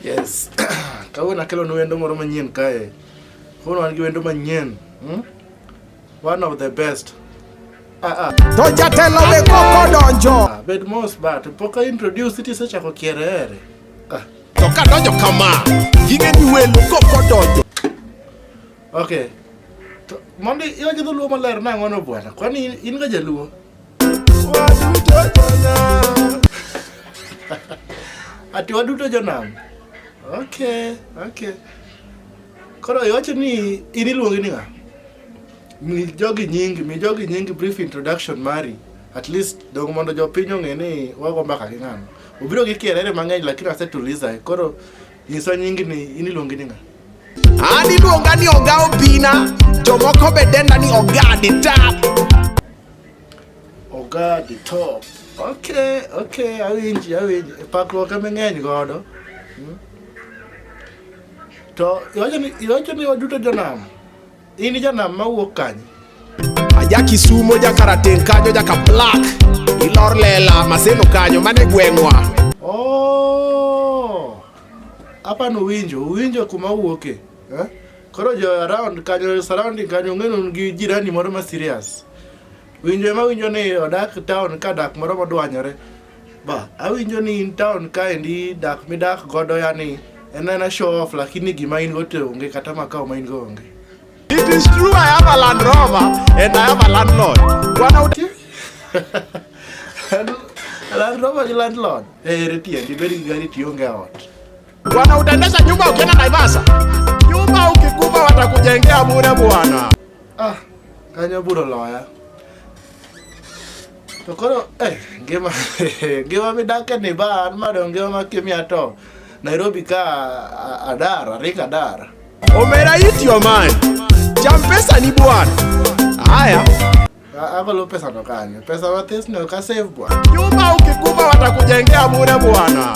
Yes. Kawuono akelo nu wendo moro manyien kae. Kawuono wan gi wendo manyien. Hmm? One of the best. Ah, ah. To jatelo be koko donjo. Ah, bed mos ba to pok introduce it isechako kiere ere. Ah. To ka donjo kama, yige ni welo koko donjo. Okay. To mondi iwacho dholuo maler nang'o no bwana. Kwani in ga jaluo? Ati waduto jonam. Okay, okay. Koro iwacho ni in iluongi ni ng'a? Mi jogi nyingi, mi jogi nyingi brief introduction mari. At least dong mondo jopiny ong'e ni wago mbaka gi ng'ano. Obiro gi kierere mang'eny lakini asetuliza. Koro Nyisa nyingi ni iniluongi ni ng'a? An iluonga ni Oga Obina, jomoko be denda ni Oga the Top. Oga the Top. Okay, okay, awinji, awinji. Pakruok ema ng'eny godo. Hmm? To iwacho ni iwacho ni waduto jonam. In janam mawuok kanye? Aja Kisumo, ja Karateng kanyo, ja Kaplak. Ilor lela, Maseno kanyo, mane gweng'wa. Oh! Apa no winjo, winjo kuma wuoke. Eh? Koro jo around kanyo, surrounding kanyo, ng'enu gi jirani moro ma serious. Winjo ema winjo ni odak town ka dak moro modwanyore. Ba, awinjo ni in town kaendi dak midak godo yani en ena show off lakini gima in go te onge kata makao ma in go onge. It is true I have a Land Rover and I have a landlord. Bwana uti Land Rover gi landlord. Eh, retie ndi beri gari tionge ot. Bwana utaendesha nyumba ukienda Naivasha. Nyumba ukikufa watakujengea bure bwana. Ah, kanya buro loya. To koro eh, ngima ngima midake ni ba an ma dong ngima ma kimia to Nairobi ka a- adar arik adar. Omera eat your man. Cham pesa ni bwana. Haya. A- Agolo pesa no kanyo. Pesa mathis no ka save bwana. Nyumba ukikuba watakujengea bure bwana.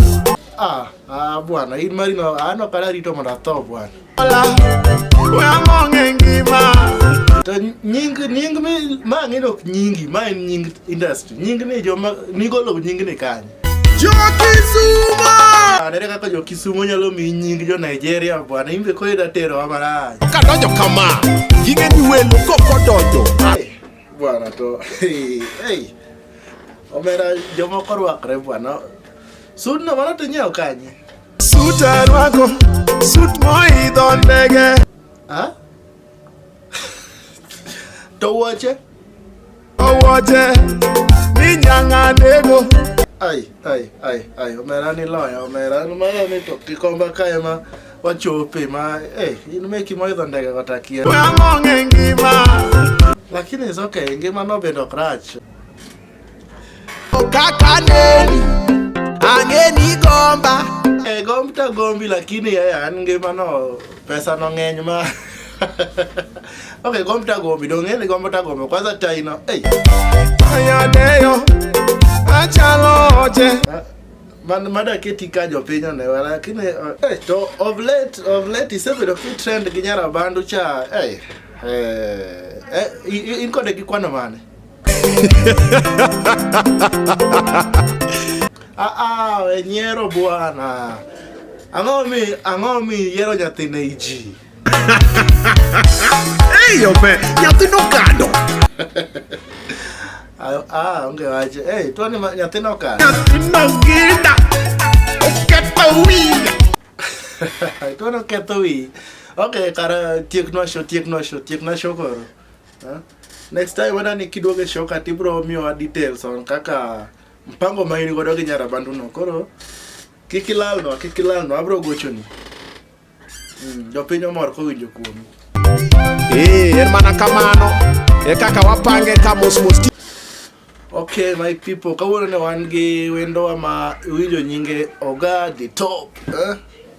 Ah, ah bwana, in mari no ano kala rito mondo atho bwana. To nying nying mi ma ng'ino ok nyingi ma en nying industry nying ni joma nigolo nying ni kanye Jokisumo! Anere ah, kaka Jokisumo nyalo mi nying jo Nigeria bwana imbe ko ida tero amarach. Ka donjo kama, yinge ni welo ko ko donjo. Bwana to. Hey. Omera jomoko rwakre bwana. Sudno mano to nyiewo kanye? Sut arwako, sut moidho ndege. Ha? To wuoche? Owoche, ni nyanga nego. Ai, ai, ai, ai, omera ni loya, omera ni mara ni to kikomba kae ma wachope ma, eh, in meki moidho ndege kata kia. Wang'ong'e ngima. Lakini is okay, ngima no bedo ok rach. Kakaneni angeni gomba e gomta gombi lakini yeye an ngimano pesa no ng'eny ma okay gomta gombi dong' ng'eni gomta gombi kwanza taino hey. ayadeyo achalo oche man mada keti ka jopiny onewa lakini uh, eh, to of late of late isebedo kitrend gi nyarabandu cha eh, eh, eh, i- i- in kode gi kwano mane Ah, ah, we nyiero bwana. Ang'o mi ang'o mi yiero nyathi ne iji? Eyo be, nyathi nokado. Ah, ah, onge wach. Hey, to ni ma- nyathi nokalo. Nyathi noginda. Oketho wiya. to noketho wi. Okay, kara tieknwa show, tieknwa show, tieknwa show koro. Huh? Next time wena nikiduoge show ka tibro miwa details on kaka mpango ma in godo gi nyarabandu no. Koro kik ilal no, kik ilal no, abro gochoni. Mm, jopiny omor kowinjo kuomi. Eh, en mana kamano. E kaka wapange ka mos mos. Ok my people, kawuono ne wan gi wendowa ma iwinjo nyinge Oga the top. Eh?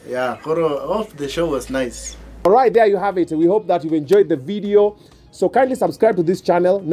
Yeah, koro oh, the show was nice. All right, there you have it. We hope that you've enjoyed the video. So kindly subscribe to this channel. Now